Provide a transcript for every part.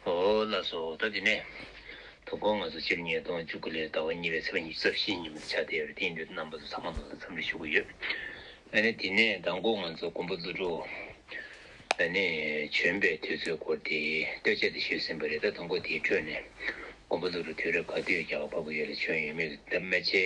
ཧོ། བླ་སྲོག་འོག་ལྟ་འདི་ནས། དུག་སྒོང་ང་ཚོ་སྤྱིར་ཉིས་སྟོང་བཅུ་དགུ་ལོའི་ཟླ་བ་གཉིས་པའི་ཚེས་པ་ཉིན་རྩ་བཞིའི་ཉིན་མོ་ད་ཆ་དེར་བརྟེན་འདིར་རྣམ་པ་ཚོ་ཚང་མ་ལོ་སར་འཚམས་འདྲི་ཞུ་དགོས་ཡོད། ཨ་ནི་དེ་ནས་ཟླ་འགོ་ང་ཚོ་མགོན་པོ་རྫུ་འཕྲུལ། ཨ་ནི་བྱོན་པའི་དུས་ཚོད་སྐོར་དེ་ལྟོས་བཅས་དེ་ཞུས་ཟིན་པ་རེད་ད་ཟླ་འགོ་དེའི་ཁྲོད་ནས་མགོན་པོ་རྫུ་འཕྲུལ་དུས་རབས་ག་དུས་ཀྱི་རྒྱལ་བ་འཕགས་པོ་ཡོད་ལ་བྱོན་ཡོད་མེད་ཀྱི་ལྡབ་མ་ཆེ།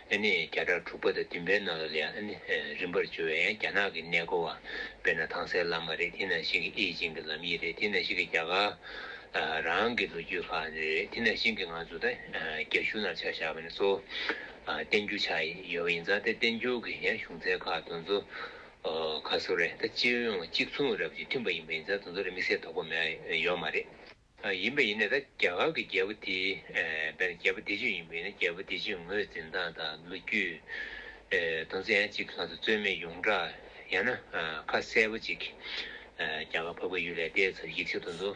ཨ་ནི་བརྒྱ་ཕྲག་དྲུག་པ་དང་བདུན་པའི་ནང་ལོ་ལས་ཨ་ནི་རིམ་པར་བྱོལ་བས་རྒྱ་ནག་གི་གནས་སྐོར་བ་དཔེར་ན་ཐང་སའི་བླ་མ་རེ་ཐི་ན་ཤིང་གི་ཨེ་ཅིན་གྱི་ལམ་ཡིག་རེ་ཐི་ན་ཤིང་གི་རྒྱ་གར་རང་གི་ལོ་རྒྱུས་ཁག་ནི་རེ་ཐི་ན་ཤིང་གི་ང་ཚོ་དང་རྒྱ་གཞུང་ནང་ཆ་བཞག་པ་ནི་གཙོ་བོ་བསྟན་འགྱུར་ཆགས་ཡོད་པ་ཡིན་ཙང་དེ་བསྟན་འགྱུར་གྱི་ཡང་གཞུང་ཚན་ཁག་དང་གཙོ་ཁ་སོ་རེ་ད་སྤྱིར་ཡོང་གཅིག་མཚུངས་རབས་ཀྱི་མཐུན་པ་ཡིན་པ་ཡིན་ཙང་དང་གཙོ་རེ་དམིགས་བསལ་དོགས་པ་མེད་ཡོད་མ་རེད། ཡིན་པ་ཡིན་ནས་ད་རྒྱ་གར་གྱི་རྒྱལ་པོ་དེའི་བན་རྒྱལ་པོ་བདེ་ཆོས་ཡིན་པ་ཡིན་ན་རྒྱལ་པོ་བདེ་ཆོས་ངོས་འཛིན་སྟངས་དང་ལོ་རྒྱུས་དང་ཚན་གཅིག་ལྷག་ཏུ་རྩོད་མེད་ཡོངས་གྲགས་ཡང་ན་ཁ་གསལ་པོ་གཅིག་རྒྱ་གར་བབ་ཁ་ཡོད་ལས་དེའི་ཚབ་ཡིག་ཆ་དོན་དུ་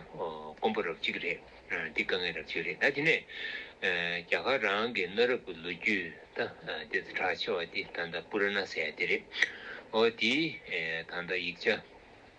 དཀོན་པོ་རབ་གཅིག་རེད་འདི་དཀའ་ངལ་རབ་གཅིག་རེད་ད་དེ་ནས་རྒྱ་གར་རང་གི་གནའ་རབས་ཀྱི་ལོ་རྒྱུས་ད་དེ་ཚོ་གྲགས་ཆེ་བ་དེ་ད་ད་པུ་ར་ན་སའི་དེ་རེད་འོ་དེའི་ད་ད་ཡིག་ཆ།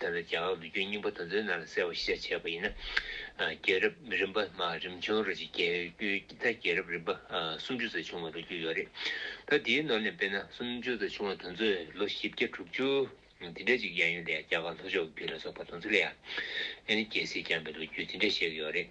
དེ་ལ་རྒྱ་གར་ལུགས་རྒྱུན་རྙིང་པ་དང་མཛོད་རྣམས་ལ་གསལ་བར་ཤེས་བྱ་བྱས་པ་ཡིན་ན། རྒྱལ་རབས་རིམ་པ་མ་རིམ་བྱུང་རོལ་གྱི་རྒྱལ་རྒྱུད་དང་རྒྱལ་རབས་རིམ་པ་སུམ་ཅུ་ཙམ་བྱུང་བ་ལོ་རྒྱུས་ཡོད་རེད། ད་དེའི་ནང་ནས་དཔེར་ན་སུམ་ཅུ་ཙམ་བྱུང་བ་དང་མཛོད་ལོ་བཞི་བརྒྱ་དྲུག་ཅུ། དེ་འདྲ་ཅིག་ཡང་ཡོད་དེ་རྒྱ་གར་ལྷོ་ཕྱོགས་ཀྱི་རྒྱུད་ལ་སོགས་པ་དང་ཚུ་ལེ་ཡ། ཨེ་ནི་རྒྱལ་སྲིད་བསྐྱངས་པའི་ལོ་རྒྱུས་དེ་འདྲ་བཤད་ཀྱི་ཡོད་རེད།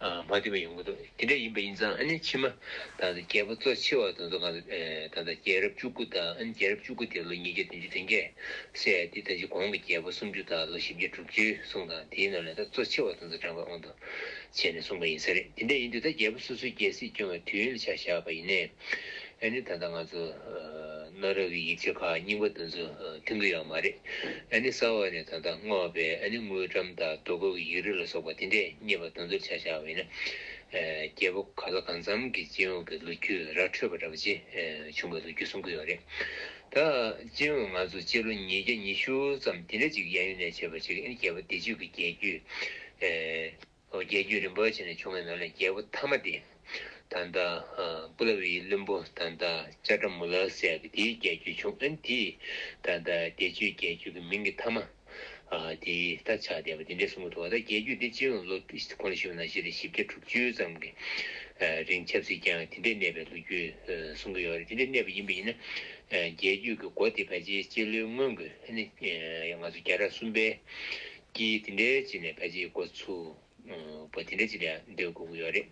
མ་བསྡུས་པ་ཡོང་གི་འདུག་དེ་འདྲ་ཡིན་པ་ཡིན་ཙང་ཨ་ནེ་ཕྱི་མ་ད་ལྟ་རྒྱལ་པོ་གཙོ་ཆེ་བ་དང་ཚོ་གང་ད་ལྟ་རྒྱལ་རབས་བཅུ་དགུ་དང་ཨ་ནེ་རྒྱལ་རབས་བཅུ་དགུ་དེ་ལོ་ཉིས་བརྒྱ་བདུན་ཅུ་དོན་བརྒྱད་སྲས་དེ་དང་གཅིག་གོང་གི་རྒྱལ་པོ་སུམ་ཅུ་དང་ལོ་བཞི་བརྒྱ་དྲུག་བཅུའི་གསུང་དང་དེའི་ནང་ནས་ད་གཙོ་ཆེ་བ་དང་ཚོ་དྲངས་པ་ཨོ་དོ་བྱས་ནས་གསུངས་པ་ཡིན་ས་རེད་དེ་འདྲ་ཡིན་དུས་ད་རྒྱལ་པོ་སོ་སོའི་རྒྱལ་སྲིད་སྐྱོང་བའི་དུས་ཡུན་ལ་ཆ་བཞག་པ་ཡིན་ནས། ཨེ་ནི་ད་ལྟ་ང་ཚོ་གནའ་རབས་ཀྱི་ཡིག་ཆ་ཁག་རྙིང་པ་འདི་ཚོ་མཐུན་གྱི་ཡོད་མ་རེད། ཨེ་ནི་གསར་བ་ནི་ད་ལྟ་བསྔོགས་པའི་ཨེ་ནི་དངུལ་འགྲམ་དང་རྡོ་བརྐོས་ཀྱི་ཡིག་རིགས་ལ་སོགས་པ་དེ་འདྲས་རྙེད་པ་དེ་ཚོར་ཆ་བཞག་བས་ན། རྒྱལ་པོ་ག་ལ་གང་འཚམ་གྱི་སྤྱི་ཡོངས་ཀྱི་ལོ་རྒྱུས་ར་འཕྲོད་པ་འདྲ་པོ་ཆེ་བྱུང་བའི་ལོ་རྒྱུས་གསུང་གི་ཡོད་རེད། ད་སྤྱི་ཡོངས་ང་ཚོ་སྤྱི་ལོ་ཉིས་བརྒྱ་ཉི་ཤུ་ཙམ་དེ་འདྲས་ཅིག་གི་གཡས་གཡོན་ནས་བྱས་པ་ཅིག་ཨེ་ནི་རྒྱལ་པོ་བདེ་སྤྱོད་ཀྱི་རྒྱལ་རྒྱུད། ལོ་བརྒྱད་ཅུ་རིན་པོ་ཆེ་ནས་བྱུང་བའི་ནོར་ལས་རྒྱལ་པོ་དྷརྨ་སྟེ། ད་ལྟ་པུ་ལ་བྷིའི་བློན་པོ་ད་ལྟ་ཅཱ་ཏྲ་མུ་ལ་སྲས་ཀྱི་དེའི་རྒྱལ་རྒྱུད་བྱུང་ཨན་དེས་ད་ལྟ་དེ་ཆུའི་རྒྱལ་རྒྱུད་ཀྱི་མིང་གི་དྷརྨ་དེ་ད་ཆ་དེ་བ་དེ་འདྲའི་གསུང་གི་ཐུ་བ་ད་རྒྱལ་རྒྱུད་དེ་སྤྱི་ཡོངས་ལོ་གོང་ལ་ཤི་བ་ན་ཞེས་རེ་བཞི་བརྒྱ་དྲུག་ཅུ་ཙམ་གྱི་རིང་ཆབ་སྲིད་ཀྱང་དེ་འདྲའི་གནས་པའི་ལོ་རྒྱུས་གསུང་གི་ཡོད་རེད་དེ་འདྲའི་གནས་པ་ཡིན་པ་ཡིན་ན་རྒྱལ་རྒྱུད་ཀྱི་མགོ་དེ་བས་ཆེ་ལོའི་སྔོན་གྱི་ཨ་ནི་ང་ཚོ་རྒྱ་གྲ་གསུམ་པའི་ཀྱི་དེ་འདྲའི་ཅིག་ནས་ཕལ་ཆེར་འགོ་ཚུགས་པ་དེ་འདྲའི་ཅིག་ལས་འདོད་དགོས་ཀྱི་ཡོད་རེད།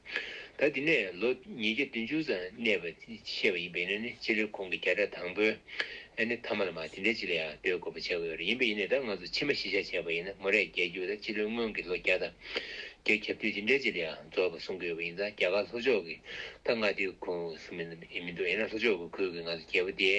ད་དེ་ནས་ལོ་ཉིས་བརྒྱ་བདུན་ཅུ་ཙམ་གནས་པ་ཤེས་པ་ཡིན་པས་ཡིན་ན་ནི་སྤྱི་ལོའི་གོང་གི་བརྒྱ་ཕྲག་དང་པོའི་ནི་ཐ་མ་ལ་མ་དེ་འདྲའི་ཅིག་ལས་ཡང་འདོད་དགོས་པ་བྱས་ཀྱི་ཡོད་རེད་ཡིན་པས་ཡིན་ནས་ད་ང་ཚོ་ཕྱི་མ་གཞི་བཞག་བྱས་པ་ཡིན་ན་མོ་རས་རྒྱལ་རྒྱུགས་ལ་སྤྱི་ལོའི་སྔོན་གྱི་ལོ་བརྒྱ་དང་བརྒྱད་ཁྱབ་དུས་དེ་འདྲའི་ཅིག་ལས་ཡང་རྫོགས་པ་གསུང་གི་ཡོད་པ་ཡིན་ཙང་རྒྱ་གར་ལྷོ་ཕྱོགས་ཀྱི་ད་ང་དེའི་ཁུངས་སུ་མི་འདུག་ཡིན་ན་ལྷོ་ཕྱོགས་ཀྱི་ཁུལ་གྱི་ང་ཚོ་རྒྱལ་པོ་དེའི་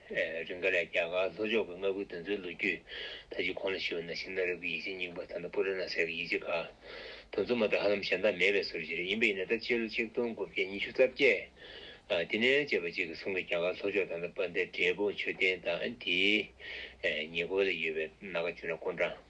རིང་ག་ལས་རྒྱ་གར་ལྷོ་ཕྱོགས་ཀྱི་མངའ་ཁུལ་དེ་ཚོའི་ལོ་རྒྱུས་ད་ཅི་གོང་ལ་ཞུ་བ་ན་ཤིང་སྣ་རབ་ཀྱི་ཡིག་ཆ་རྙིང་པ་ད་ནི་པུ་ར་ན་སེ་ར་ཡིག་ཆ་ཁག་དང་མཚུངས་མ་ཐག་ཧ་ལམ་གཞན་དག་མེད་པའི་ཟུར་བཞི་རེ་ཡིན་པ་ཡིན་ན་ད་སྤྱི་ལོ་ཆིག་སྟོང་དགུ་བརྒྱ་ཉི་ཤུ་རྩ་བརྒྱད་ཏི་ནན་ཅེས་པ་ཅིག་གིས་གསུངས་པའི་རྒྱ་གར་ལྷོ་ཕྱོགས་ད་ནི་པ་ཟླའི་འབྲས་སྤུངས་མཆོད་རྟེན་དང་དེའི་ཉེ་འཁོར་ལ་ཡོད་པའི་ན་ག་ཅུ་ན་ཀོ་འདྲ།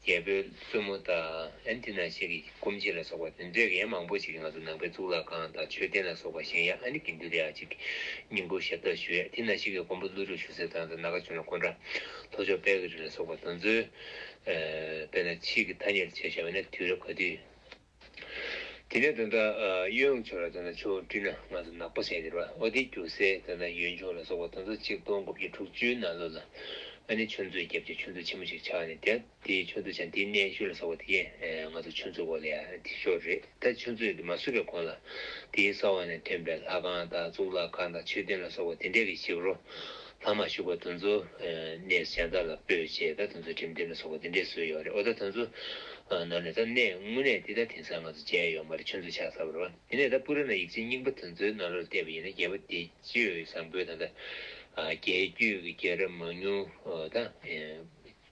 རྒྱལ་པོའི་བཙུན་མོ་དག་ཨན་ཏི་ན་ཤེ་ཀི་སྐུམ་ཆེ་ལ་སོགས་པ་དོན་མཛད་མཁན་ཡང་མང་པོ་ཞིག་གི་ང་ཚོ་ནང་པའི་གཙུག་ལག་ཁང་དང་མཆོད་རྟེན་ལ་སོགས་པ་གཞན་ཡང་ཨ་ནི་དགེ་འདུན་རེ་ཨ་ཅིག་སྙིང་པོ་ཞབས་བཏགས་ཞུས་ཨན་ཏི་ན་ཤེ་ཀི་མགོན་པོ་ཀླུ་སྒྲུབ་ཞུ་སའི་ཐང་དང་ནཱ་ག་བྱོན་ལ་ཀོན་ཀྲ་ལྷོ་ཕྱོགས་དཔལ་གྱི་རི་ལ་སོགས་པ་དོན་མཛོད། དཔེར་ན་ཕྱིས་ཀྱི་ཐ་སྙད་ལ་བྱས་བཞག་པས་ན་དུས་རབས་ག་དུས། དེ་ནས་དོན་དག་གཡོན་ཡོངས་ཆོས་ལ་དོན་དག་ཆོས་བཀྲུས་ན་སྔགས་སུ་ནག་པོ་བྱས་ཏེ་རོ་ཨོ་དེ་རྒྱུ་གསལ་དོན་དག་ཡོན་ཆོས་ལ་སོགས་པ་དོན་དག་ཆིག་སྟོང་དགུ་བརྒྱ་དྲུག་ཅུའི་ནང་ལོ་ལ་ཨ་ནི་ཆོས་མཛོད་རྒྱབ་ཀྱི་ཆོས་མཛོད་ཆེན་མོ་ཞིག་ཆགས་ནས་དེ་དེའི་ཆོས་མཛོད་ཆང་དེའི་གནས་བཞུགས་ལ་སོགས་པ་དེ་ང་ཚོ་ཆོས་མཛོད་གོ་ལ་ཡ་དེ་ཤོར་རེད་ད་ཆོས་མཛོད་དེ་མ་བསུས་པའི་གོང་ལ་དེའི་ས་འོག་ནས་ཐོན་པའི་ལྷ་ཁང་དང་གཙུག་ལག་ཁང་དང་མཆོད་རྟེན་ལ་སོགས་པ་དེ་འདྲས་ཀྱི་ཞིབ་རོ། ལྷག་མ་ཞུགས་པ་དེ་ཚོ་གནས་གཞན་དག་ལ་སྤོས་ཞེས་ད་དེ་ཚོ་ཁྲིམས་དེ་ལ་སོགས་པ་འདི་འདྲའི་སྲོལ་ཡོད་རེད་འོ་ད་དེ་ཚོ་ནང་ནས་ད་གནས་དངོས་གནས་འདི་ད་དེང་སང་ང་ཚོ་མཇལ་ཡོད་མ་རེད་ཆུ་མཛོད་ཆགས་ས་བོར་བ་དེ་ནས་ད་པུ་ར་ན་ཡིག་ཆའི་རྙིང་པ་དེ་ཚོའི་ནང་ལོར་བལྟས་པ་ཡིན་ན་རྒྱལ་པོ་དེ་ཅོད་བཟང་པོའི་ད་ད་རྒྱལ་རྒྱུད་ཀྱི་རྒྱལ་རབས་མང་ཉུང་ད་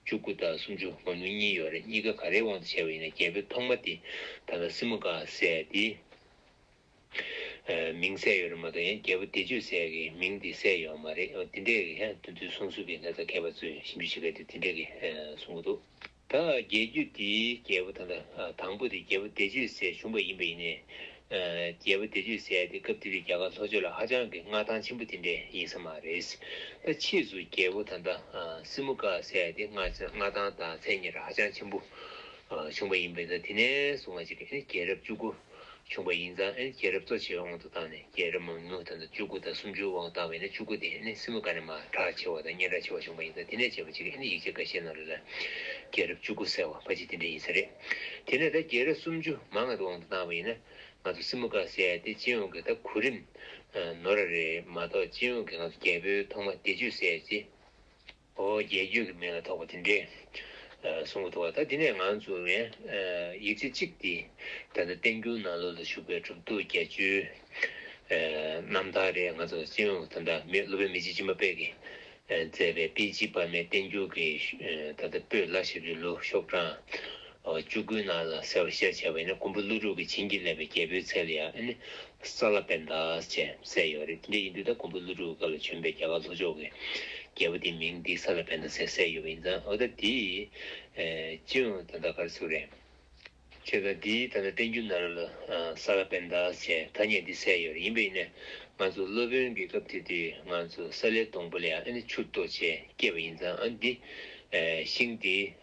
བཅུ་དགུ་དང་སུམ་ཅུ་མང་ཉུང་གཉིས་ཡོད་རེད་གཉིས་ཀ་ག་རེའི་དབང་དུ་བྱས་པ་ཡིན་ན་རྒྱལ་པོའི་ཐོག་མ་དེ་ད་ད་སྲིན་མོ་འགའ་བསད་དེ། མིང་གསལ་ཡོད་རེད་མ་གཏོགས་ཡང་རྒྱལ་པོ་བདེ་སྤྱོད་ཟེར་ཡ་གི་མིང་དེ་གསལ་ཡོད་མ་རེད་འོ་དེ་འདྲའི་གི་དེ་ཚོའི་གསུང་སུ་གི་ལྷ་ས་ཁྱད་པར་ཚོས་ཞིབ་འཇུག་བྱེད་མཁན་དེ་དེ་འདྲའི་གི་གསུང་གི་འདུག། ད་རྒྱལ་རྒྱུད་དེའི་རྒྱལ་པོ་དང་དང་པོ་དེ་རྒྱལ་པོ་བདེ་སྤྱོད་ཟེར་བྱུང་པ་ཡིན་པ་ཡིན་ནའི། རྒྱལ་པོ་བདེ་སྤྱོད་ཟེར་ཡ་དེ་སྐབས་དེ་དུས་རྒྱ་གར་ལྷོ་ཕྱོགས་ལ་ཧ་ཅང་གི་མངའ་ཐང་ཆེན་པོ་དེ་འདྲའི་ཡིན་ས་མ་རེད། ད་ཕྱིས་སུ་རྒྱལ་པོ་ད་ལྟ་སི་མུ་ཀ་ཟེར་ཡ་དེ་མངའ་ཐང་དང་མཚན་ཉིད་ཧ་ཅང་ཆེན་པོ་བྱུང་པ་ཡིན་པས་ད་དེ་ནས་བཟུང་བ་ཅིག་གི་རྒྱལ་རབས་བཅུ་དགུ། བྱུང་བ་ཡིན་ཙང་ཨན་རྒྱལ་རབས་གཙོ་ཆེ་བའི་དབང་དུ་བཏང་ནས་རྒྱལ་རབས་མང་ཉུང་དང་དུ་བཅུ་དགུ་དང་སུམ་ཅུའི་དབང་བཏང་བས་ན་བཅུ་དགུ་དེ་ཨན་ནི་སྲིན་མོ་ག་ནས་མ་གྲགས་ཆེ་བ་དང་སྙན་གྲགས་ཆེ་བ་བྱུང་བ་ཡིན་ཙང་དེ་ནས་བྱས་པ་གཅིག་གིས་ཨན་ཡིག་ཆ་འགའ་ཤས་ནང་ལ་ལ་རྒྱལ་རབས་བཅུ་དགུ་ཟེར་བ་ཕ་གཅིག་དེ་འདྲ་ཡིན་ས་རེད། དེ་ནས་ད་རྒྱལ་རབས་སུམ་ཅུ་མ་ང་དུ་དབང་དུ་བཏང་བ་ཡིན་ན་ང་ཚོ་སྲིན་མོ་ག་ཟེར་ཏེ་སྤྱི་ཡོངས་ཀྱི་ད་གུ་རིམ་ནོར་ར་རེད་མ་གཏོགས་སྤྱི་ཡོངས་ཀྱི་ང་ཚོ་རྒྱལ་པོའི་ཐོག་མ་བདེ་ཆོས་ཟེར་ཏེ། ཨོ་རྒྱན་རྒྱུད་ཀྱི་མིང་ལ་ཐོགས་པ་དེ་འདྲས་གསུང་གི་འདུག་ད་དེ་ནས་ང་ཚོ་ངས་ཡིག་ཆ་གཅིག་འདི་ད་ལྟ་བསྟན་འགྱུར་ནང་ལོ་ལ་བཞུགས་པའི་གྲུབ་ཐོབ་བརྒྱད་བཅུའི་རྣམ་ཐར་རེ་ང་ཚོ་སྤྱི་ཡོངས་དང་འདྲ་མི་སློབ་དཔོན་མི་རྗེ་ཅི་མ་དཔལ་གྱིས་མཛད་པའི་དཔེ་ཇི་དཔར་མའི་བསྟན་འགྱུར་གྱི་ད་ལྟ་སྤོས་ལ་ཞབས་ཀྱི་ལུགས་ཤོག་གྲངས་བཅུ་དགུའི་ནང་ལ་གསལ་བར་བཤད་བྱ་བས་ནི་ཀོང་པོ་ཀླུ་སྒྲུབ་ཀྱིས་བྱིན་གྱིས་བརླབས་པའི་རྒྱལ་པོའི་ཚལ་ལ་ཡང་ནི་ས་ལ་པད་ཟླ་ཅེས་གསལ་ཡོད་རེད་དེ་ཡིན་དུས་ད་ཀོང་པོ་ཀླུ་སྒྲུབ་ཀྱི་སྐབས་ལ་བྱོན་པའི་རྒྱ་གར་ལྷོ་ཕྱོགས་ཀྱི་རྒྱལ་པོ་དེའི་མིང་འདི་ས་ལ་པད་ཟླ་ཟེར་གསལ་ཡོད་པ་ཡིན་ཙང་འོ་ད་དེས་ཅི་ཡང་ད་ལྟ་ག་རེ་ཚུགས་རེད། ཁྱེད་ལ་འདི་ད་ལྟ་བསྟན་རྒྱུ་ན་རོ་ལ་ས་ལ་པད་ཟླ་ཞེས་ཐ་སྙད་འདི་གསལ་ཡོད་རེད་ཡིན་པས་ནི་ང་ཚོ་སློབ་དཔོན་གྱི་སྐབས་དེ་དུས་ང་ཚོ་ས་ལའི་སྡོང་པོ་ལ་ཡང་ནི་ཆུ་བརྟོ་ཅེས་སྐད་པ་ཡིན་ཙང་འདི་ཤིང་དེ།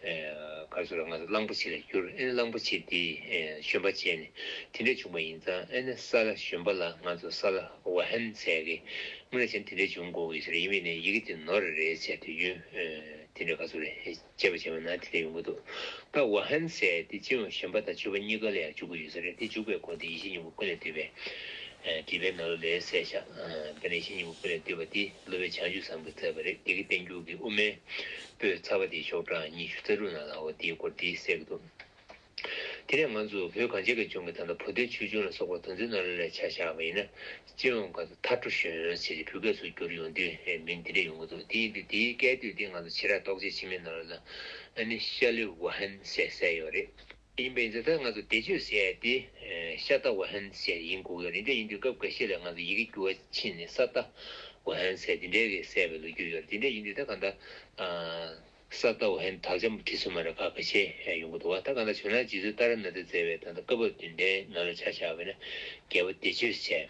གར་སོང་ལ་ང་ཚོ་གླང་པོ་ཆེ་ལ་བསྐྱུར་ཨེ་ནི་གླང་པོ་ཆེ་དེས་བཞོན་པ་བྱས་ནས་དེ་འདྲས་བྱུང་བ་ཡིན་ཙང་ཨེ་ནི་ས་ལ་བཞོན་པ་ལ་ང་ཚོ་ས་ལ་བ་ཧན་ཟེར་གི་སྔོན་ལ་བྱས་ནས་དེ་འདྲས་བྱུང་གོ་ཞེས་རེ་ཡིན་པས་ནི་ཡི་གེ་དེ་ནོར་རེད་རེད་བྱས་དུས་རྒྱུན་དེ་འདྲས་ག་ཚོད་རེད་དཔྱད་པ་བྱས་པ་ན་དེ་འདྲས་ཡོང་གི་འདུག་ད་བ་ཧན་ཟས་དེ་སྤྱིར་བ་བཞོན་པ་དང་བྱོལ་བ་གཉིས་ཀ་ལ་ཡང་འཇུག་གི་ཡོད་ས་རེད་དེ་འཇུག་པའི་སྐོར་དེ་ཡེ་ཤེས་སྙིང་པོ་ཀུན་ལས་བཏུས་པའི་བྲིས་པའི་ནང་ལ་ལས་གསལ་ཤག་དེ་ལ་ཡེ་ཤེས་སྙིང་པོ་ཀུན་ལས་བཏུས་པ་དེ། ལོ་བའི་བྱང་ཆུ་བཟང་པོས་བཙས་པ་རེད་དགེ་དགེ་བསྟན་འགྱུར་གྱི་དབུ་མའི་པོད་ཚར་བ་དེའི་ཤོག་གྲངས་ཉི་ཤུ་རྩ་དྲུག་ནང་ལའོ་དེའི་སྐོར་དེའི་གསལ་གྱི་འདུག་དེ་ནས་ང་ཚོ་བོད་གངས་ཅན་གྱི་ལྗོངས་ཀྱི་ད་ལྟ་བོ་ཏའི་ཆོས་འབྱུང་ལ་སོགས་པ་དོན་ཚན་སྣ་རེ་རེ་ལ་ཆ་བཞག་པ་ཡིན་ན་སྤྱི་ཡོངས་ཁ་ཚ་ཐར་ཁྲོ་གཞོན་ནུ་ཆེ་ཆེ་བུ་སྐད་སུ་གྱུར་ཡོང་དུས་མིང་དེ་འདྲ་ཡོང་གི་འདུག་དེ་ཡིན་དུས་དེའི་སྐད་དོད་དེ་ང་ཚོ་ཕྱི་ར་རྟོག་བྱེད་ཕྱི་མའི་ནོར་ལ་ཨ་ནི་ཤ་ལི་ཝུ་ཧན་ཟེར་ཟེར་ཡོད་རེད། ཡིན་པས་འདི་ལྟར་ང་ཚོ་བདེ་སྤྱོད་ཟེར་ཡ་དེ། ཤ་སྟག་བ་ཧན་ཟེར་ཡིན་དགོས་གི་རེད་འདྲ་ཡིན་དུས་སྐབས་འགའ་ཤས་ལ་ང་ཚོ་ཡི་གེ་འགྱུར་བ་ཕྱིན་ནས་ས་སྟག་བ་ཧན་ཟེར་དེ་འདྲའི་གེ་སད་པའི་ལོ་རྒྱུས་ཡོད་རེད་དེ་འདྲ་ཡིན་དུས་ད་ག་འདྲ། ས་སྟག་བ་ཧན་དག་ཆ་མ་བྲིས་སོང་མ་རེད་ཁ་ག་ཤས་ཡོང་གི་འདུག་བ་ད་ག་འདྲ་བྱུང་ན་རྗེས་སུ་ཏཱ་ར་ནཱ་ཐའི་ཛའི་བས་ད་ལྟ་སྐབས་བབ་དུས་འདྲའི་ནང་ལ་ཆ་བཞག་པས་ན་རྒྱལ་བོ་བདེ་སྤྱོད་ཟེར།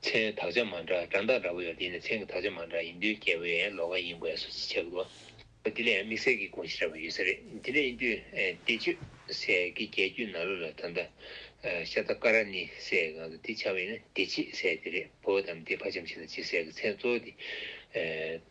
མཚན་དག་ཆ་མ་འདྲ་དགྲ་འདག་འདྲ་པོ་ཡོད་དེ་ནི་མཚན་གྱི་དག་ཆ་མ་འདྲ་ཡིན་དུས་རྒྱལ་པོའི་ལོ་ག་ཡིན་དགོས་སོ་ཅི་བྱ་དགོས། དེ་ལས་དམིགས་བསལ་གྱི་དགོངས་གཞི་ར་བ་ཡོད་ས་རེད་དེ་ལས་ཡིན་དུས་བལྟས་བཅོས་ཟས་ཀྱི་རྒྱལ་རྒྱུད་ནཱ་ལོ་ལ་ད་ལྟ་ཤ་ད་ཀ་ར་ནི་ཟས་ཀྱི་གང་དུ་དེ་འཆར་བས་ན་བདེ་སྐྱིད་ཟས་དེ་རེད་བོད་དམ་དེ་ཕ་ཆམ་ཆི་ལ་སྐྱིད་ཟས་ཀྱི་མཚན་གཙོ་བོ་དེ་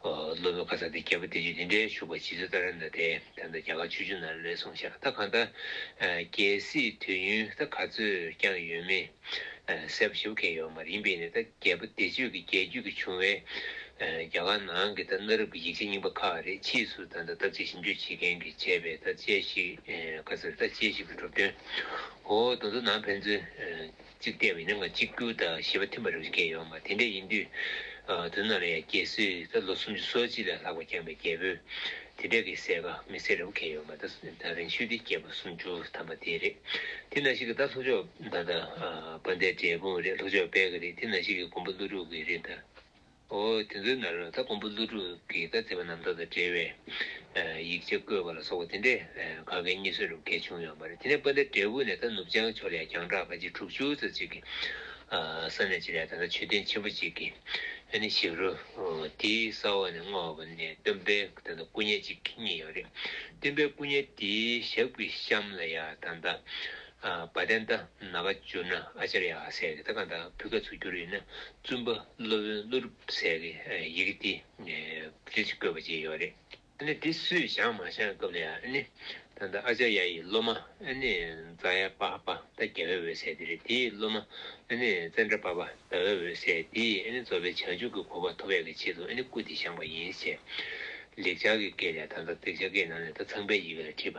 སློབ་མའི་ཁ་ཚ་དེ་རྒྱལ་པོ་བདེ་ཆོས་འདི་འདྲའི་བཞུགས་པ་ཇི་ཚོད་ལྟར་རན་ད་དེ་ད་རྒྱ་གར་ཆོས་བརྒྱུད་ནང་ལས་སོང་ཤག་ད་གང་ད་རྒྱལ་སྲིད་དུས་ཡུན་ད་ག་ཚོད་བསྐྱངས་ཡོད་མེད་གསལ་པོ་ཞུ་མཁན་ཡོད་མ་རིན་པས་ནི་ད་རྒྱལ་པོ་བདེ་ཆོས་ཀྱི་རྒྱལ་རྒྱུད་ཀྱི་བྱུང་བའི་རྒྱ་གར་ནང་གི་ད་གནའ་རབས་ཀྱི་ཡིག་ཆ་རྙིང་པ་ཁག་རེད་ཕྱིས་སུ་ད་ད་ཐབས་ཅད་ཞིབ་འཇུག་བྱེད་མཁན་གྱི་བྱས་པས་ད་དཔྱད་ཞིག་ག་ཚོད་རེད་ད་དཔྱད་ཞིབ་ཀྱི་གྲུབ་དོན་འོ་དོ་དོ་ནང་ཕན་ཚུན། གཅིག་བལྟས་པ་ཡིན་ན་ང་གཅིག་གྱུར་དང་བྱིས་པ་མཐུན་པ་རེ་རེ་སྐྱེས་ཡོང་ང་དེ་འདྲ་ཡིན་དུས། དུས་ནམ་ཡང་རྒྱལ་སྲིད་ད་ལོ་སུམ་ཅུ་སོ་གཅིག་ལས་ལྷག་པ་བསྐྱངས་པའི་རྒྱལ་པོས་དེ་འདྲ་གི་གསལ་ཁ་མི་གསལ་རེ་བོ་ཁེལ་ཡོང་ང་ད་རིང་ཤུལ་འདི་སྐྱེས་པ་སུམ་ཅུ་ཐམ་པ་དེ་རེད་དེ་ན་ཞིག་གི་ད་ལྷོ་ཕྱོགས་ད་ད་སྤ་ཟླའི་འབྲས་སྤུངས་རེད་ལྷོ་ཕྱོགས་དཔལ་གི་རེད་དེ་ན་ཞིག་གི་དགོན་པ་ཀླུ་སྒྲུབ་གི་རེད་ད། འོ་དེ་ཚོའི་ནང་ལ་ད་ཀོང་པོ་ཀླུ་སྒྲུབ་ཀྱི་བཀའ་བརྩི་བ་རྣམས་དག་དང་འབྲེལ་བའི་ཡིག་ཆ་བཀོད་པ་ལ་སོགས་པ་དེ་འདྲའི་ག་གེ་གཉིས་སོན་རུ་གེ་བྱུང་ཡོང་བ་རེད་དེ་ནས་སྤུན་ཟླ་འབྲས་བུ་ནས་ད་ནུབ་བྱང་ཕྱོགས་ལས་རྒྱང་གྲགས་ག་གྱ་དྲུག་ཅུ་ཙ་ཅིག་གི་ས་གནས་ཅིག་ལས་ད་ལྟ་ཆོས་སྡིངས་ཆེན་པོ་ཅིག་གི་ཨ་ནི་ཞིག་རུ་དེའི་ས་འོག་ནས་སྔ་བ་ནས་སྟོན་པའི་ད་ལྟ་སྐུ་བརྙན་ཅིག་རྙེད་ཡོད་རེད་སྟོན་པའི་སྐུ་བརྙན་དེའི་ཞབས་ཀྱི་གཤམ་ལ་ཡང་ད་ད་བ་བསྟན་རྟ་ན་བ་བསྒྱུར་ན་ཨ་ཅར་ཡ་ཟེར་གི་ད་གང་ལྟར་བུ་ག་ཚུགས་བསྒྱུར་ཡིན་ན་བཙུན་པ་སློབ་དཔོན་ཀླུ་རུ་ཟེར་གི་ཡི་གེ་འདི་རིལ་གྱིས་བཀོད་པ་ཅིག་ཡོད་རེད་ཨ་ནི་འདི་སུས་བཞག་མ་བཞག་སྐབས་ལ་ཡ་ཨ་ནི་ད་ལྟ་ཨ་ཅར་ཡ་ཡི་སློབ་མ་ཨ་ནི་རྫ་ཡ་པ་ཧ་པ་རྟ་རྒྱལ་བའི་འོད་ཟེར་འདི་རེད་དེའི་སློབ་མ་ཨ་ནི་ཙན་དྲ་པ་པ་ཟླ་བའི་འོད་ཟེར་འདི་ཨ་ནི་རྫོགས་པའི་བྱང་ཆུབ་ཀྱི་གོ་བ་ཐོབ་པའི་གི་ཆེད་དུ་ཨ་ནི་སྐུ་འདི་བཞེངས་པ་ཡིན་ཞེས་ལེགས་སྦྱར་གྱི་སྐད་ལས་ད་ལྟ་ལེགས་སྦྱར་སྐད་ནང་ནས་ད་ཚངས་པའི་ཡི་གེ་ལ་བྲིས་པ་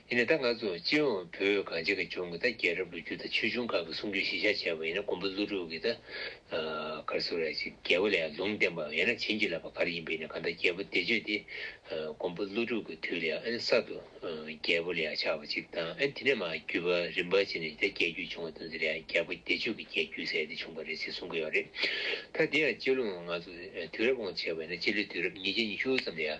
ཡིན་ནས་ད་ང་ཚོ་སྤྱི་ཡོངས་བོད་གངས་ཅན་གྱི་ལྗོངས་ཀྱི་ད་རྒྱལ་རབས་ལོ་རྒྱུས་དང་ཆོས་འབྱུང་ཁག་གི་གསུང་ཆོས་གཞིས་ཆགས་བྱས་པ་ཡིན་ན་མགོན་པོ་ཀླུ་སྒྲུབ་ཀྱི་ད་གར་སུ་ར་ཅིག་རྒྱལ་པོ་ལས་ལུང་བསྟན་པའམ་ཡང་ན་བྱིན་གྱིས་བརླབས་པ་གར་ཡིན་པ་ཡིན་ན་གང་ལྟར་རྒྱལ་པོ་བདེ་སྤྱོད་དེ་མགོན་པོ་ཀླུ་སྒྲུབ་ཀྱི་དུས་ལས་ཨ་ནི་གསར་དུ་རྒྱལ་པོ་ལས་ཆགས་པ་ཅིག་དང་ཨ་ནི་དེ་ནས་མ་བརྒྱུད་པར་རིམ་པར་ཕྱིན་ནས་ད་རྒྱལ་བརྒྱུད་བྱུང་བ་དང་དེ་ལས་རྒྱལ་པོ་བདེ་སྤྱོད་ཀྱི་རྒྱལ་བརྒྱུད་ཟེར་ཏེ་བྱུང་བ་རེད་ཅེས་གསུང་གི་ཡོད་རེད། ད་དེ་ཡང་སྤྱི་ལོའི་ང་ཚོ་དུས་རབས་དབང་ཆེ་བ་ཡིན་ན་སྤྱི་ལོའི་དུས་རབས་ཉིས་བརྒྱ་ཉི་ཤུ་ཙམ་ལས།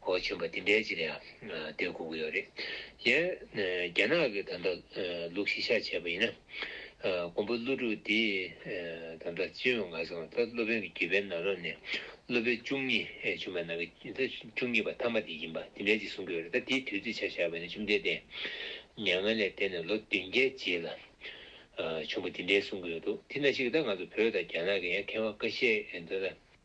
ཧོ་ཆེན་པོ་འདི་འདྲའི་ཅི་ལ་ཡང་དེ་སྒུག་གི་ཡོད་རེད་ཡ། རྒྱ་ནག་གི་ད་ལྟ་ལུག་ཤི་ཤ་བྱས་པ་ཡིན་ན། ཀོང་པོ་ཀླུ་ཕྲུག་འདི་ད་ལྟ་ཅི་ཡོད་ང་སེམས་ད་ལྟ་སློབ་དཔོན་གྱི་རྒྱུད་པའི་ནང་རང་ནས་སློབ་དཔོན་བཅུ་གཉིས་བྱུང་པའི་ནང་གི་ད་བཅུ་གཉིས་པ་མཐའ་མ་དེ་ཡིན་པ་འདི་འདྲའི་ཅིག་གསུང་གི་ཡོད་རེད་ད་དེའི་དུས་ཚོད་ཆ་བཞག་པ་ཡིན་ན་བཅོམ་ལྡན་འདས་མྱ་ངན་ལས་འདས་ནས་ལོ་བདུན་བརྒྱད་རྗེས་ལ། བྱུང་པ་འདི་འདྲའི་གསུང་གི་ཡོད་འདུག་དེ་ན་ཞིག་ད་ང་ཚོ་བོད་དང་རྒྱ་ནག་གི་ཡང་ཁེ་བ་འགའ་བཤད་འདོད་ན།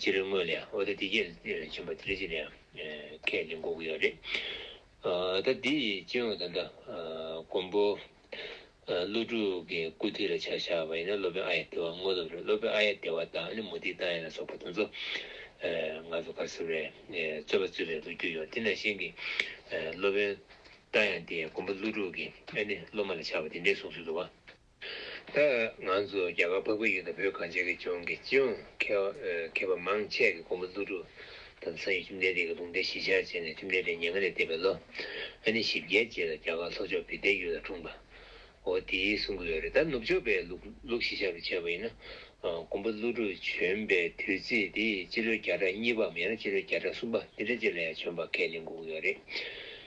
ཅི་རེད་དངོས་ལས་ཨོ་ད་དེ་རྒྱལ་ཆེན་པོ་དེ་རེད་ཅི་རེད་ཁས་ལེན་གོ་གི་ཡོད་རེད་ད་དེ་ཡི་སྤྱི་ཡོངས་ད་ལྟ་མགོན་པོ་ཀླུ་སྒྲུབ་ཀྱི་སྐུ་ཐིག་ལ་ཆ་བཞག་པ་ཡིན་ན་སློབ་དཔོན་ཨ་ཡེ་ལྟེ་བ་དངོས་སློབ་རེད་སློབ་དཔོན་ཨ་ཡེ་ལྟེ་བ་དང་མུ་ཏིག་ཏང་ཡོན་ལ་སོགས་པ་དེ་ཚོ་ང་ཚོ་ཁ་སུ་རེད་རྩོད་པ་རྩོད་པའི་ལོ་རྒྱུས་ཡོད་དེ་ནང་བཞིན་གྱི་སློབ་དཔོན་ཏང་ཡོན་དེ་མགོན་པོ་ཀླུ་སྒྲུབ་ཀྱི་ཨ་ནི་སློབ་མ་ལ་ཆགས་པ་དེ་འདྲའི་གསུང་སྲོལ་འདུག་བ། ད་ང་ཚོ་རྒྱ་གར་འཕགས་བོད་ཡུལ་དང་བོད་གངས་ཅན་གྱི་ལྗོངས་ཀྱི་སྤྱི་ཡོངས་མཁས་པ་མང་ཆེ་གི་གོང་བུ་བསླུ་བྲུ་དང་ཚ་ཡི་ཁྱིམ་སྡེ་དེ་གི་ལུང་བསྟན་གཞིས་ཆགས་བྱས་ནས་ཁྱིམ་སྡེ་དེ་ཉེ་སྔ་ནས་བསྟེན་པའི་ལོ་ཨ་ནི་བཞི་བརྒྱད་རྗེས་ལ་རྒྱ་གར་ལྷོ་ཕྱོགས་བི་ཏའི་ཡུལ་ལ་འཁྲུངས་པའོ་དེའི་གསུང་གི་ལོ་རེད་ད་ནུབ་ཕྱོགས་པའི་ལུགས་གཞིས་ཆགས་རུ་བྱས་པ་ཡིན་ན་གོང་བུ་བསླུ་བྲུ་བྱོན་པའི་དུས་ཚིགས་དེ་སྤྱི་ལོའི་བརྒྱ་ཕྲག་གཉིས་པའམ་ཡང་ན་སྤྱི་ལོའི་བརྒྱ་ཕྲག་གསུམ་པ་འདི་འདྲ་རྗེས་ལ་ཡང་བྱོན་པ་ཁས་ལེན་གུ་གུ་ཡོད་རེད་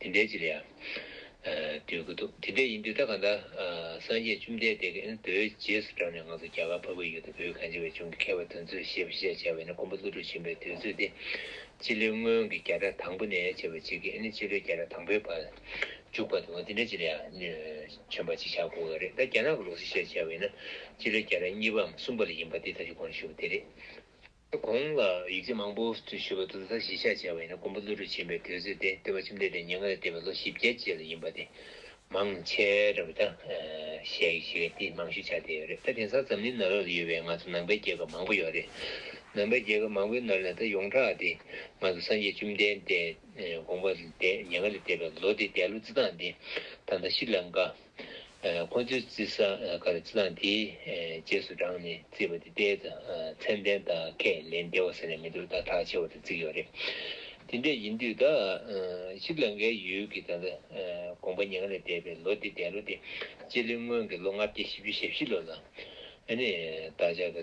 དེ་འདྲའི་ཅི་ལ་ཡང་འདོད་ཀྱི་འདུག་དེ་འདྲས་ཡིན་དུས་ད་ག་ད་སངས་རྒྱས་བཅོམ་ལྡན་འདས་ཀྱི་འདོད་རྒྱལ་སུ་གྲགས་ནས་ང་ཚོ་རྒྱ་གར་འཕགས་པའི་ཡུལ་དུ་བོད་གངས་ཅན་བའི་ལྗོངས་ཀྱི་མཁས་པ་དོན་གཙོས་ཞེས་པ་ཤེས་བྱ་བྱ་བས་ན་མགོན་པོ་ཀླུ་སྒྲུབ་ཆེན་པོའི་དུས་ཚོད་དེ་སྤྱི་ལོའི་སྔོན་གྱི་བརྒྱ་ཕྲག་དང་པོ་ནས་བྱེད་པ་གཅིག་གིས་ནི་སྤྱི་ལོའི་བརྒྱ་ཕྲག་དང་པོའི་བར་འཇུག་པ་དང་དེ་འདྲས་ཅི་ལ་ཡང་མཚོན་པ་ཅིག་བྱ་དགོས་ཀྱི་རེད་ད་རྒྱ་ནག་གི་ལུགས་སུ་ཤེས་བྱ་བས་ན་སྤྱི་ལོའི་བརྒྱ་ཕྲག་གཉིས་པའམ་གསུམ་པ་ལ་ཡིན་པ་འདི་ལྟ་ཅི་དགོངས་ཞུ་བ་དེ་རེད། གོང་ལ་ཡིག་ཆ་མང་པོ་འབྲི་ཞུས་པ་དུ་ཟླ་བཞི་ཤ་བྱས་པ་ཡིན་ན་ཀོང་པོ་ཀླུ་རུ་ཆེན་པོའི་དུས་ཚོད་དེ་སྟོན་པ་ཁྱིམ་སྡེ་དེ་ཉེ་སྔར་བསྟེན་པའི་ལོ་བཞི་བརྒྱད་རྗེས་ལ་ཡིན་པ་དེ་མང་ཆེ་རབས་བདག་གཞས་ཡིག་ཆའི་སྟེང་མང་ཤོས་ཆགས་བསྡད་ཡོད་རེད་ད་དེང་སང་འཛམ་གླིང་ནག་རོག་ལ་ཡོད་པའི་ང་ཚོ་ནང་པའི་རྒྱལ་ཁབ་མང་པོ་ཡོད་རེད་ནང་པའི་རྒྱལ་ཁབ་མང་པོའི་ནང་ལས་ད་ཡོངས་གྲགས་དེ་ང་ཚོ་སངས་རྒྱས་བཅོམ་ལྡན་འདས་གོང་པོ་ལ་བསྡད་ཉེ་སྔར་ལ་བསྡད་པའི་ལོ་དེ་འདས་ལོ་རྩི་སྟངས་དེ་ད་ཟླ་བཞི་ལ་འགའ། ཁོ་ཚོའི་བརྩི་ས་ག་རེ་བརྩི་སྟངས་དེའི་རྗེས་སུ་འབྲངས་ནས་བརྩིས་པ་དེ་ལྟའི་མཚན་ལྡན་དག་ཁས་ལེན་བདེ་བ་ཟེར་ནས་མི་འདུག་ད་གྲགས་ཆེ་བ་དེ་བརྩིས་ཡོད་རེད། དེ་འདྲས་ཡིན་དུས་ད་ཞིབ་ལ་འགའི་ཡུལ་གྱི་ད་ལྟ་དགོངས་པ་ཉིང་ལས་འདས་པའི་ལོ་འདི་འདས་ལོ་སྟེ་སྤྱི་ལོའི་སྔོན་གྱི་ལོ་ལྔ་བརྒྱ་ཞེ་བཅུ་ཞེ་བཞི་ལོ་ལ་ཨ་ནི་བདག་ཅག་གི་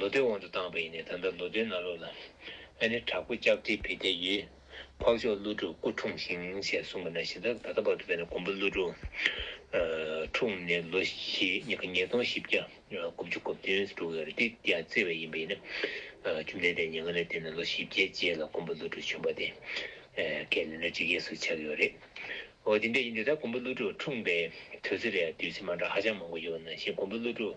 ལོ་ཟླའི་དབང་དུ་བཏང་བ་ཡིན་ནས་ད་ལྟ་ལོ་ཟླའི་ནང་ལོགས་ལ། ཨ་ནེ་དྲག་པོ་ལྕགས་སྤྲེལ་བི་ཏའི་ཡུལ། འཕགས་མཆོག་ཀླུ་སྒྲུབ་སྐུ་འཁྲུངས་ཤིང་ཞེས་གསུངས་པ་ན་གཞི་བདག་ད་ལྟ་བར་དུ་བས་ན་མགོན་པོ་ཀླུ་སྒྲུབ། འཁྲུངས་ནས་ལོ་ཞེ་གཉིས་ཀ་ཉིས་སྟོང་བཞི་བརྒྱ་དགུ་བཅུ་གོ་བདུན་དྲུག་ཡོད་རེད་དེ་འདི་ཡང་བརྩི་བས་ཡིན་པ་ཡིན་ན། བཅོམ་ལྡན་འདས་ཉིན་ག་ལེར་བསྟེན་ནས་ལོ་བཞི་བརྒྱའི་རྗེས་ལ་མགོན་པོ་ཀླུ་སྒྲུབ་བྱོན་པ་དེ། ཀའི་ལོ་ན་ཇི་སྐད་སུ་ཆགས་ཡོད་རེད། འོ་དེ་འདྲ་ཡིན་དུས་ད་མགོན་པོ་ཀླུ་སྒྲུབ་འཁྲུངས་པའི་དུས་ཚོད་རེ་ཡང་བསྡུས་ཚེ་མ་འདྲ་ཧ་ཅང་མང་པོ་ཡོད་ན་ཞེས་མགོན་པོ་ཀླུ་སྒྲུབ།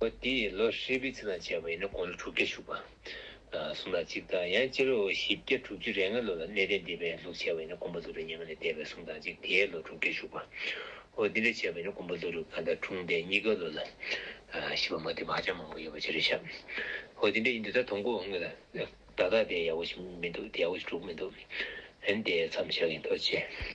པོ་དེས་ལོ་ཧྲིལ་པོའི་ཚིགས་ལ་བྱས་པ་ཡིན་ན་གོང་ལོ་དྲུག་བརྒྱ་བཞུགས་པ། གསུམ་ལ་གཅིག་དང་ཡང་སྤྱི་ལོ་བཞི་བརྒྱ་དྲུག་ཅུ་རེ་ལྔ་ལོ་ལ་གནས་བརྟན་སྡེ་པའི་ལུགས་བྱས་པ་ཡིན་ན་གོང་པོ་ལོ་རུས་ཉེ་མ་ནས་བསྟན་པའི་གསུམ་དང་གཅིག་དེས་ལོ་དྲུག་བརྒྱ་བཞུགས་པ། འོ་འདི་འདྲ་བྱས་པ་ཡིན་ན་གོང་པོ་ལོ་རུས་གང་ལྟར་འཁྲུངས་འདས་གཉིས་ཀ་ལོ་ལ་ཤི་བ་མ་བསྟན་པ་ཧ་ཅང་མང་པོ་ཡོད་པ་ཅི་རེད་ཤག། འོ་འདི་འདྲ་ཡིན་འདི་ལྟར་དོང་གོ་དངུལ་ལ་བརྡ་དག་དེ་ཡག་པོ་ཞིག་མི་འདུག་དེ་ཡག་པོ་ཞིག་གྲུབ་མི་འདུག་འོན་ཏེ་མཚམས་བཞག་གིན་འདུག་ཅེས།